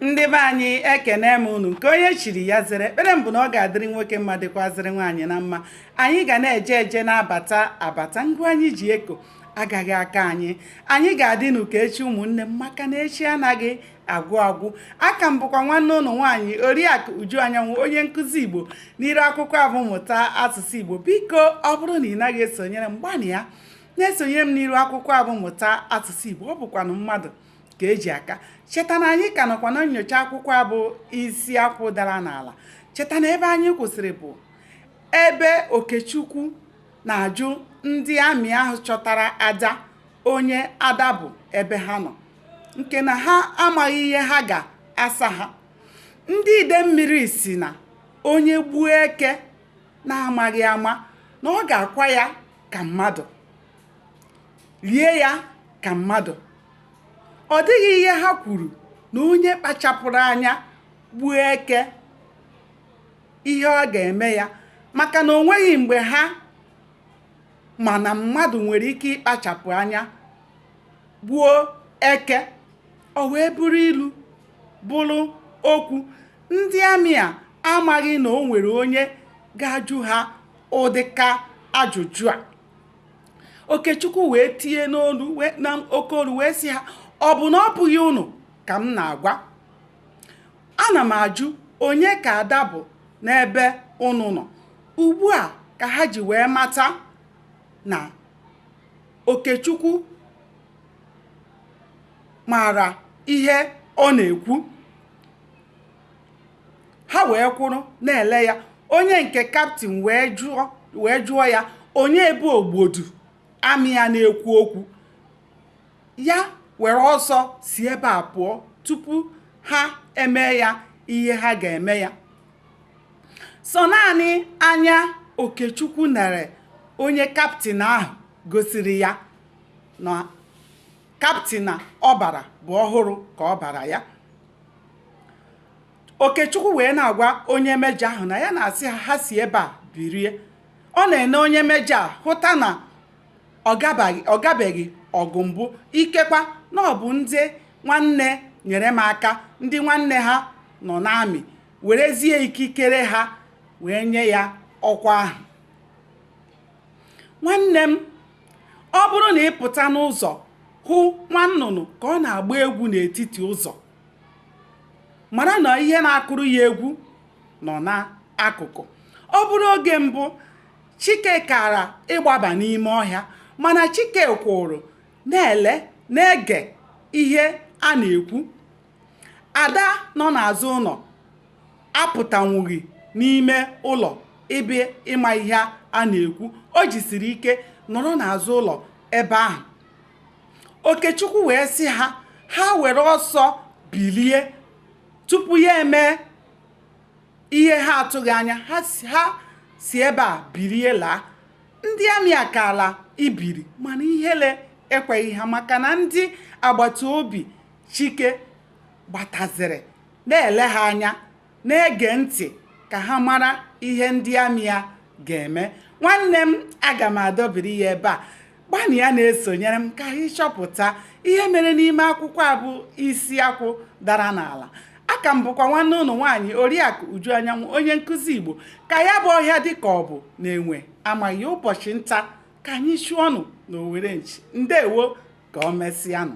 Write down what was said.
ndị be anyị ekene m unu nke onye chiri ya zere ekpere m bụ na ọ ga-adịrị nwoke mma dịkwazịrị nwaanyị na mma anyị ga na-eje eje na-abata abata ngụ anyị ji eko agaghị akwa anyị anyị ga-adịnụ ka echi ụmụnne m maka na echi anaghị agwụ agwụ aka m bụkwa nwanne unu nwaanyị oriakụ uju anyanwụ onye nkụzi igbo n'iru akwụkwọ a bụ mụta asụsụ igbo biko ọ bụrụ na ị naghị esonyere m gbanịa na-esonyere m n'iru akwụkwọ a bụ mụta asụsụ igbo ọ bụkwanụ mmadụ ka e ji aka cheta na anyị ka nọkwa na nnyocha akwụkwọ a bụ isi akwụ dara n'ala cheta na ebe anyị kwụsịrị bụ ebe okechukwu na-ajụ ndị amị ahụ chọtara ada onye ada bụ ebe ha nọ nke na ha amaghị ihe ha ga-asa ha ndị idemmiri sị na onye gbuo eke na-amaghị ama na ọ ga-akwa ya ka mmadụ lie ya ka mmadụ ọ dịghị ihe ha kwuru na onye kpachapụrụ anya gbuo eke ihe ọ ga-eme ya maka na o nweghị mgbe ha ma na mmadụ nwere ike ịkpachapụ anya gbuo eke o wee bụrụ ilu bụrụ okwu ndị amị a amaghị na o nwere onye ga-ajụ ha ụdịka ajụjụ a okechukwu wee tie n'olu n'oke olu wee sị ha ọ bụ na ọ bụghị unu ka m na-agwa ana m ajụ onye ka ada bụ n'ebe unu nọ ugbu a ka ha ji wee mata na okechukwu maara ihe ọ na-ekwu ha wee kwụrụ na-ele ya onye nke kaptin wee jụọ wee jụọ ya onye bụ ogbodu amị a na-ekwu okwu ya were ọsọ si ebe a pụọ tupu ha eme ya ihe ha ga-eme ya sọ naanị anya okechukwu nere onye kaptin ahụ gosiri ya na Kaptin a ọ bara bụ ọhụrụ ka ọ bara ya. Okechukwu wee na-agwa onye mejọ ahụ na ya na-asị ha ha si ebe a birie. Ọ na-ene onye mejọ a hụta na ọ gabaghị ọ gabeghị ọgụ mbụ ikekwa na ọ bụ ndị nwanne nyere m aka ndị nwanne ha nọ n'amị werezie ikikere ha wee nye ya ọkwa ahụ. Nwanne m Ọ bụrụ na ị pụta n'ụzọ hụ nwa nnụnụ ka ọ na-agba egwu n'etiti ụzọ, mara na ihe na-akụrụ ya egwu nọ n'akụkụ. Ọ bụrụ oge mbụ, Chike kara ịgbaba n'ime ọhịa, mana Chike kwụụrụ na-ele na-ege ihe a na-ekwu Ada nọ n'azụ ụlọ apụtanwughị n'ime ụlọ ịbịa ịma ihe a na-ekwu. O jisiri ike nọrọ n'azụ ụlọ ebe ahụ. Okechukwu wee sị ha, ha were ọsọ bilie tupu ya emee ihe ha atụghị anya. Ha si ebe a bilie laa. Ndị amị akaala ibili mana ihere ekweghị ha maka na ndị agbata obi chike gbataziri na-ele ha anya na-ege ntị ka ha mara ihe ndị amị ya ga-eme nwanne m aga m adọbiri ya ebe a gbanịa na-esonyere m ka anyị chọpụta ihe mere n'ime akwụkwọ a bụ isi akwụ dara n'ala a ka m bụkwa nwanne unu nwaanyị oriakụ uju anyanwụ onye nkụzi igbo ka ya bụ ọhịa dị ka ọ bụ na enwe amaghị ụbọchị nta ka anyị chụọ ọnụ na owere nchi ndewo ka o mesịanụ